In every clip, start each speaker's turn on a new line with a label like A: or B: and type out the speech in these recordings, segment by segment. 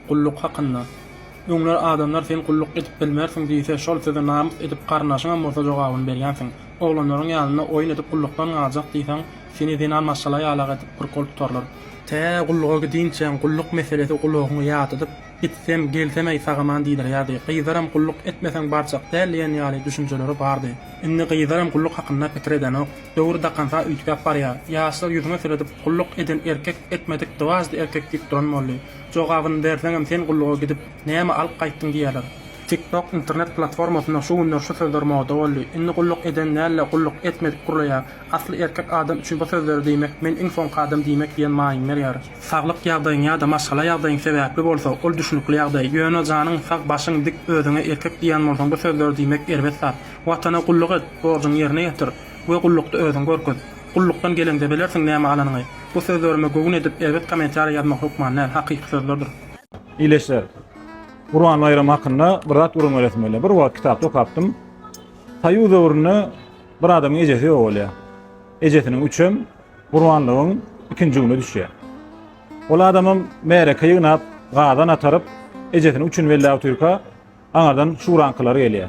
A: Gulluk hakynda. Öňler adamlar sen gulluk edip bilmersiň diýse, şol söze namys edip garyndaşyňam bolsa jogabyny berýänsiň. Oglanlaryň ýanynda oýun edip gullukdan galjak diýseň, seni zenan maşgala ýalak edip bir gol tutarlar. Tä gulluga gidinçäň gulluk meselesi gulagyňy ýadadyp, gitsem, gelsem-eý sagaman diýdirýärdi. Gyzlaram gulluk etmeseň barjak däl diýen ýaly düşünjeleri bardy. Indi gyzlaram gulluk hakynda pikir edenok. Döwür dakansa üýtgäp barýar. Ýaşlar ýüzüňe seredip, gulluk eden erkek, etmedik dwaždy erkek diýip duran boldy. Jogabyny berseňem sen gulluga gidip näme alyp gaýtdyň diýerler. TikTok internet platformasynda şu günler şu sözler moda boldy. Indi gulluk eden däl-de gulluk etmedik gurlaýar. Asly erkek adam üçin bu sözleri diýmek men iň soňky adam diýmek diýen maýyň berýär. Saglyk ýagdaýyň ýa-da maşgala ýagdaýyň sebäpli bolsa ol düşnükli ýagdaý. Ýöne janyň sag, başyň dik, özüňe erkek diýýän bolsaň bu sözleri diýmek erbet zat. Watana gulluk et, borjuňy ýerine ýetir we gullukda özüňi görkez. Gullukdan geleňde bilersiň näme alanyňy. Bu sözlerime göwün edip erbet kommentariýa ýazmak hökman däl, hakyky sözlerdir. Ildeşler!
B: Gurban baýramy hakynda bir zat gürrüň beresim gelýär. Bir wagt kitapda okapdym. Soýuz döwründe bir adamyň ejesi ýok bolýar. Ejesiniň üçem Gurbanlygyň ikinji güni düşýär. Ol adamam märeke ýygnap, gazan ataryp, ejesini üçin belläp otyrka, Aňyrdan şuraňkylar gelýär.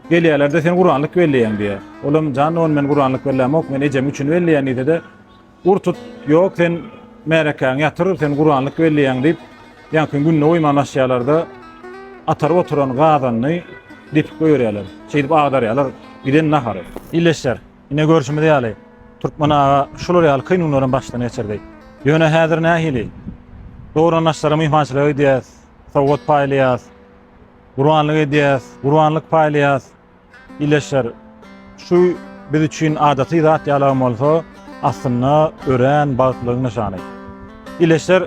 B: Gelýärler-de, Sen gurbanlyk belleýäň diýýär. Olam, Jan dogan, men gurbanlyk bellämok, men ejem üçin belleýän diýse-de, Ur tut, ýok, sen märekäňi ýatyr, sen gurbanlyk belleýäň diýip, ýaňky gününe goýmanlaşýarlar-da, ataryp oturan gazanyny depip goýberýärler. Şeýdip agdarýarlar giden nahary. Ildeşler, ine görşümiz ýaly, türkmen aga şular ýaly kyn günlerem başdan geçirdi. Ýöne häzir nähili? Dogry-da naçara myhmançylyga gidýäs, sowgat paýlaýas, gurbanlyk edýäs, gurbanlyk paýlaýas. Ileşer, şu biz üçin adaty zat ýalagam bolsa, aslynda örän bagtlylygyň nyşany. Ileşer,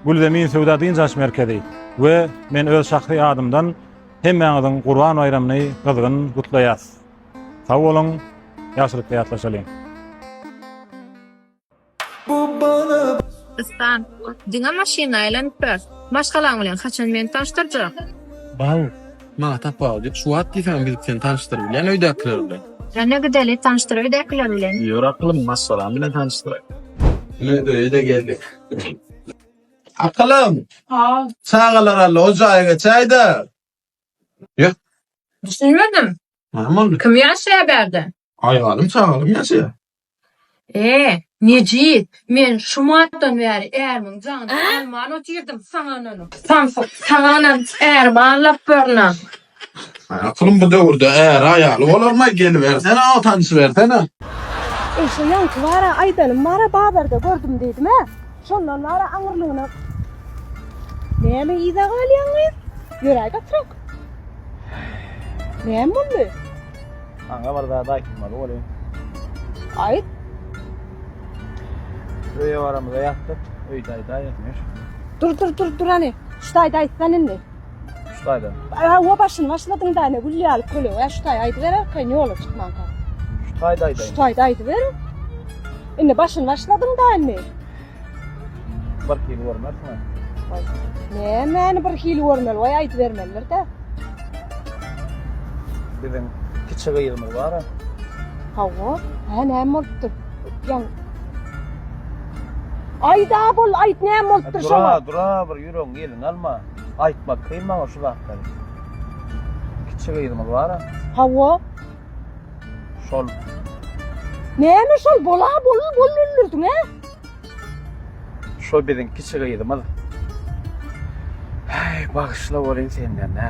B: Gülzemin söwda dynç alyş merkezi we men öz şahsy adymdan hemmäňiziň Gurban baýramyny gyzgyn gutlaýas. Sag boluň, ýagşylykda ýatlaşalyň.
C: Ispan, diňe maşyny aýlanyp ber. Maşgalaň bilen haçan meni tanyşdyrjak? Bal,
D: maňa tapawudy ýok. Şu wagt diýseňem gidip seni tanyşdyryp bilýän öýdäkiler bilen. Ýöne gideli,
C: tanyşdyr öýdäkiler bilen. Ýör akylym, maşgalam
D: bilen tanyşdyraý. Ine, öýe-de geldik. Akylym! Hal. Çagalar
C: aldy, o
D: jaýa geçäý-dä. Ýör. Düşünmedim.
C: Näme boldy?
D: Kim ýaşaýar bärde?
C: Aýalym sagdyn
D: ýaşaýar. Eee, Mejit,
C: men şu martdan bäri ärimiň janyny alman otyrdym, saňa ynanyp. Samsyk, saňa ynanyp ärimi aldap börünen. Aýalym,
D: bu döwürde äri aýaly bolarmy, gelibersene, o tanyşybersene. Eý,
E: şo ýaňky bar-a, aýdanym bar-a, bazarda gördüm diýdim-ä. Şondan bar-a aňyrlygyna. Näme yza galýaň gyz? Ýöräý gatyrak. Näme boldy? Maňa
B: bir zat aýtmaly bolýa. Aýt. Öýe baramyza ýatdyk. Öýde aýdaý ýatmyş. Dur dur dur
E: dur hany. Şu taýda aýtsan indi. Şu taýda.
B: Hawa başyny
E: başladyň da ne gül ýaly köle. Ä şu taý aýdyber arkaýyn ýola çykmanka. Şu taýda aýdaý. Şu
B: taýda aýdyber.
E: Indi başyny başladyň da indi.
B: Bir hili görmersiňiz. Oý.
E: Nämäni bir hili görmeli? Oý aýdybermelidir-de.
B: Biziň kiçi gyzymyz bar-a. Hawa.
E: Hä, näme bolupdyr? Öpýän. Aýda bol, aýt näme bolupdyr şoňa? Dura, dura bir ýüregiň
B: elini alma. Aýtmak kyn maňa şu zatlary. Kiçi gyzymyz bar-a. Hawa. Şol.
E: Näme şol bola bol bol öldürdiň he?
B: Şol biziň kiçi gyzymyz. Hey, bagşyla bolin senden ne?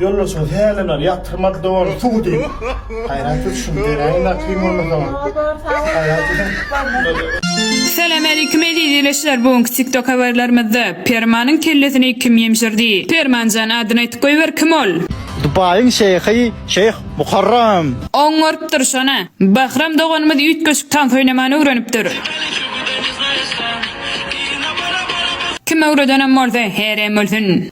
F: Ýolbaşçymyz hälimem ýatyrmady dogany suw diýip. Haýrat siz şuny beräýiň zat kyn bolmasa.
G: Salam Aleýkum Eziz Ýeleşler bu günki TikTok Habarlarymyzda Permanyň kellesini kim ýemşirdi? Permanjan adyny aýtyp goýber kim ol? Dubaýyň şeýhi
F: Şeýh Muharram. Oňarypdyr
G: şona. Bahram doganymyz üýtgeşik tans oýnamany öwrenipdir. Kim öwredenem bolsa, herem ölsün.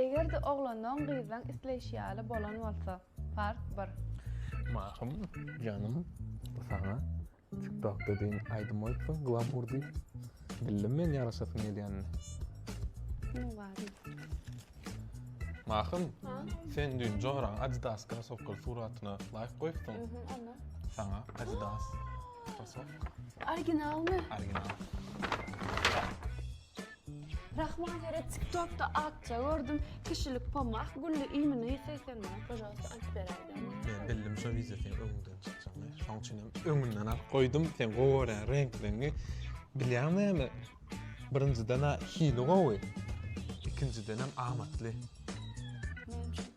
H: Eger-de oglanyň gyzlaň isleýşi ýaly bolan bolsa, part bir. Mahym
I: janym bu saňa tiktok dediň aýdym goýupsyň glamur diýip bildim men ýaraşasyň gelýänini. Munuň
H: bary ýok.
I: Mahym sen düýn joraň adidas krasowkaly suratyna laýk goýupsyň. Mhm onda. Saňa adidas krasowka. Originalmy?
H: Original. Rahman ýere tiktokda akja gördüm. Kişilik pomah gülli iýmini isleýseň maňa pažalwsta alyp beräýdä. Men bildim şo wideo
I: seň öňüňden çykjagyny. Şoň üçin hem öňünden alyp goýdum. Sen gowy görýäň reňkleňňi. Bilýäň näme? Birinjiden-ä hili gowy. Ikinjiden hem amatly. Näme üçin?